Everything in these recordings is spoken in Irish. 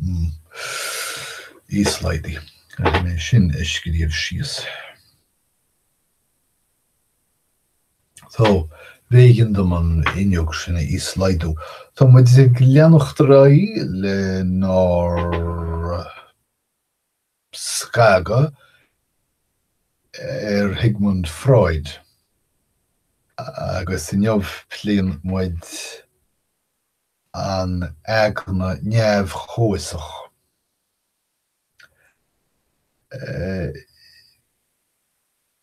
Hmm. Íoslaghdaigh. Caithfidh mé sin a scríobh síos. So, b'éigean dom an fhuinneog sin a íoslaghdú. Tá muid ag leanacht ar aghaidh lenár scagadh ar Shigmund Freud agus inniu pléann muid an aigne neamh-chomhfhiosach.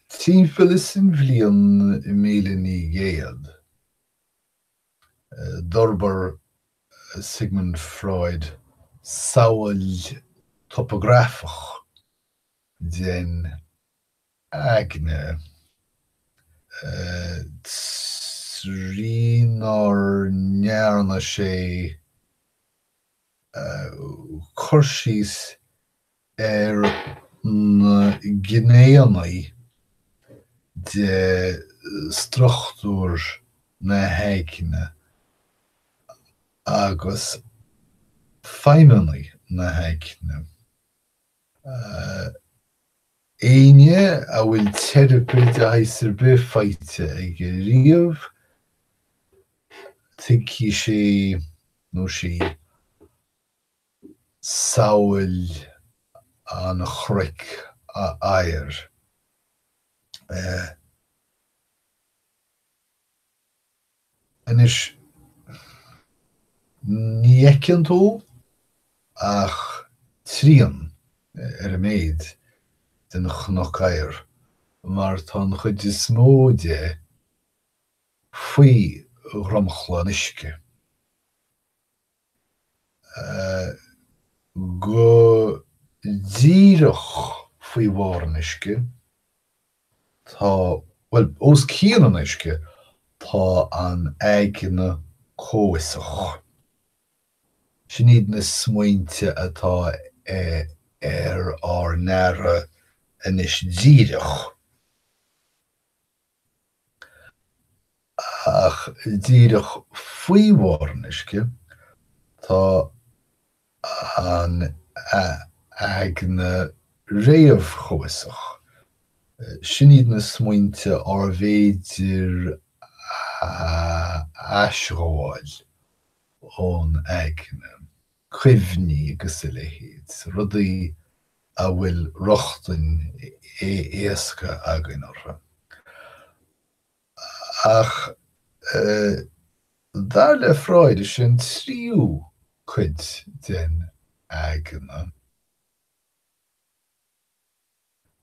Timpeall is an bhliain míle naoi gcéad, d'fhorbair Sigmund Freud samhail topagrafach den. aigne. Trína ndearna sé cur síos ar na gnéannaí de struchtúr na haigne agus feidhmeannaí na haigne, Éinne a bhfuil teiripe de shaghas ar bith faighte aige riamh, tuigfidh sé nó sí samhail an chnoic oighir. Anois, ní fheiceann tú ach trian, ar a mhéid, den chnoc oighir, mar tá an chuid is mó de faoi dhromchla an uisce. go díreach faoi bharr an uisce, tá, bhuel, os cionn an uisce, tá an aigne comhfhiosach. Sin iad na smaointe atá ar ár n-aire anois díreach. Ach díreach faoi bharr an uisce, tá an aigne réamhchomhfhiosach. Sin iad na smaointe arbh fhéidir a aisghabháil ón aigne, cuimhní agus a leithéid, rudaí a bhfuil rochtain éasca againn orthu. Ach dar le Freud, is é an tríú cuid den aigne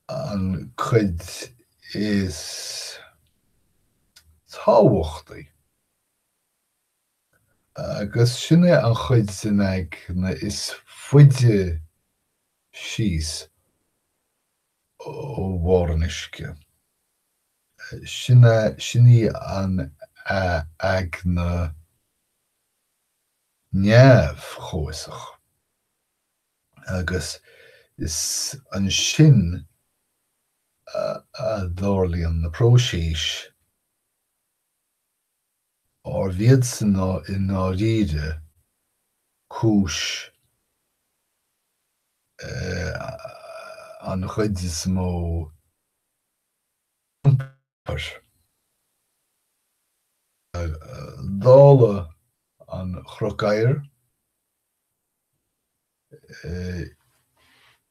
an chuid is tábhachtaí. Agus sin é an chuid den aigne is faide síos ó bharr an uisce. Sin é, sin í an aigne neamh-chomhfhiosach. Agus is ansin a tharlaíonn na próisis. arb iadsan i ndáiríre cúis an chuid is mó. Dála an chnoic oighir,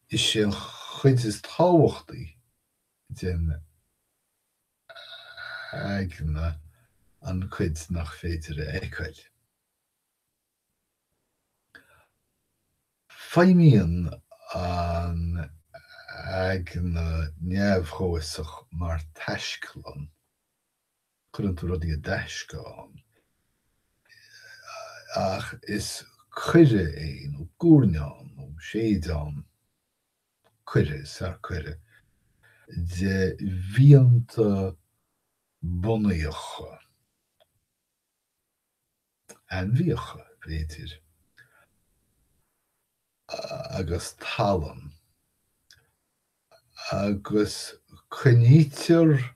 is é an chuid is tábhachtaí den. aigne an chuid nach féidir a fheiceáil. Feidhmíonn an aigne neamh-chomhfhiosach mar taisclann, cuireann tú rudaí i dtaisce ann, ach is coire é, nó guairneán, nó séideán. coire, sea, coire, de mhianta bunaíocha, ainmhíocha, b'fhéidir, agus tallann, agus coinnítear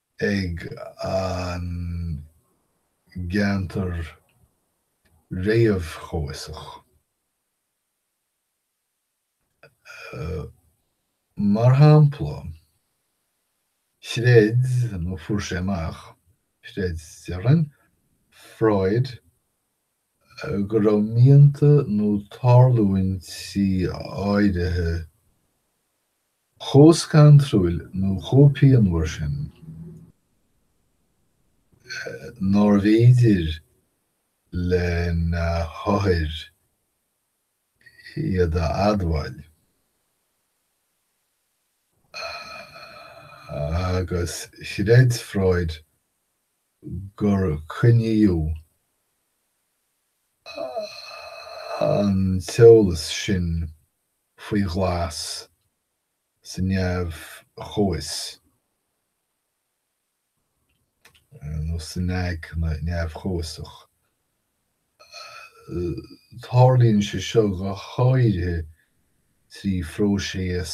ag an gceantar réamhchomhfhiosach. Mar shampla, chreid, nó fuair sé amach, chreid, déarfainn, Freud go raibh mianta nó tarlúintí áirithe chomh scantrúil nó chomh pianmhar sin nárbh fhéidir lena chuid othar iad a admháil agus chreid Freud gur coinníodh an t-eolas sin faoi ghlas sa neamh-chomhfhios, nó san aigne neamh-chomhfhiosach. Tarlaíonn sé seo go háirithe trí phróiseas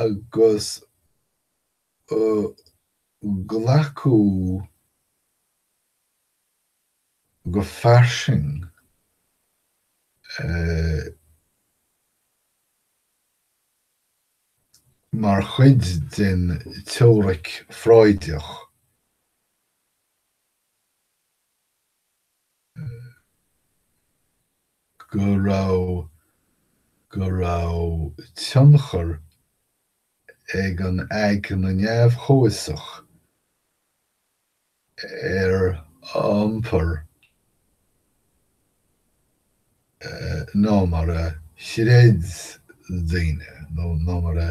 agus glacadh go fairsing mar chuid den teoiric Freudach. go raibh go raibh tionchar ag an aigne neamh-chomhfhiosach ar iompar ná mar a chreid daoine nó ná mar a.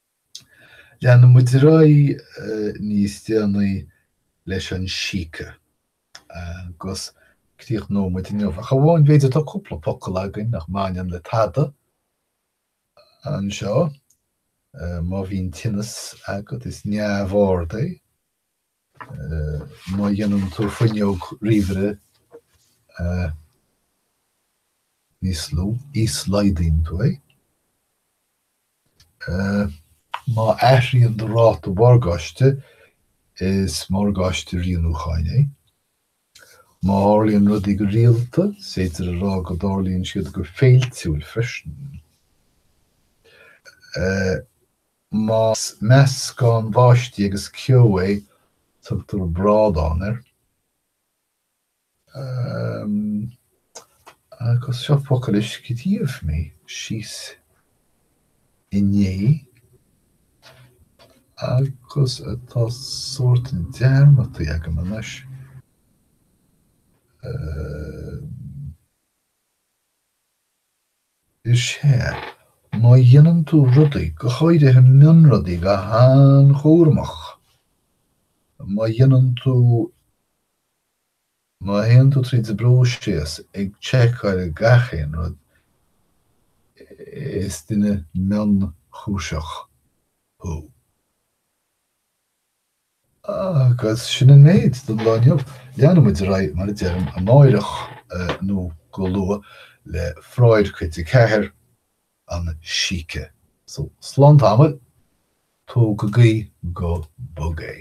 Leanann muid ar aghaidh níos déanaí leis an síce agus críochnóidh muid inniu, ach amháin b'fhéidir tá cúpla focal againn nach mbaineann le tada anseo. Má bhíonn tinneas agat is neamh-ord é. Má dhéanann tú fuinneog ríomhaire níos lú, íoslaghdaíonn tú é. Má athraíonn do ráta morgáiste, is morgáiste rianúcháin é. Má tharlaíonn rudaí go rialta, is féidir a rá go dtarlaíonn siad go féiltiúil freisin. Más meascán báistí agus ceo é, tugtar brádán air. Agus seo focal a scríobh mé síos inné agus atá sórt dearmadta agam anois. is é, má dhéanann tú rudaí, go háirithe mionrudaí, go han-chúramach, má dhéanann tú, má théann tú tríd an bpróiseas ag tseiceáil gach aon rud, is duine mionchúiseach thú. Agus sin an méid don lá inniu. Leanann muid ar aghaidh, mar a deirim, amáireach nó go luath le Freud Cuid a Ceathair, An Síce. So, slán tamaill, tógaigí go bog é.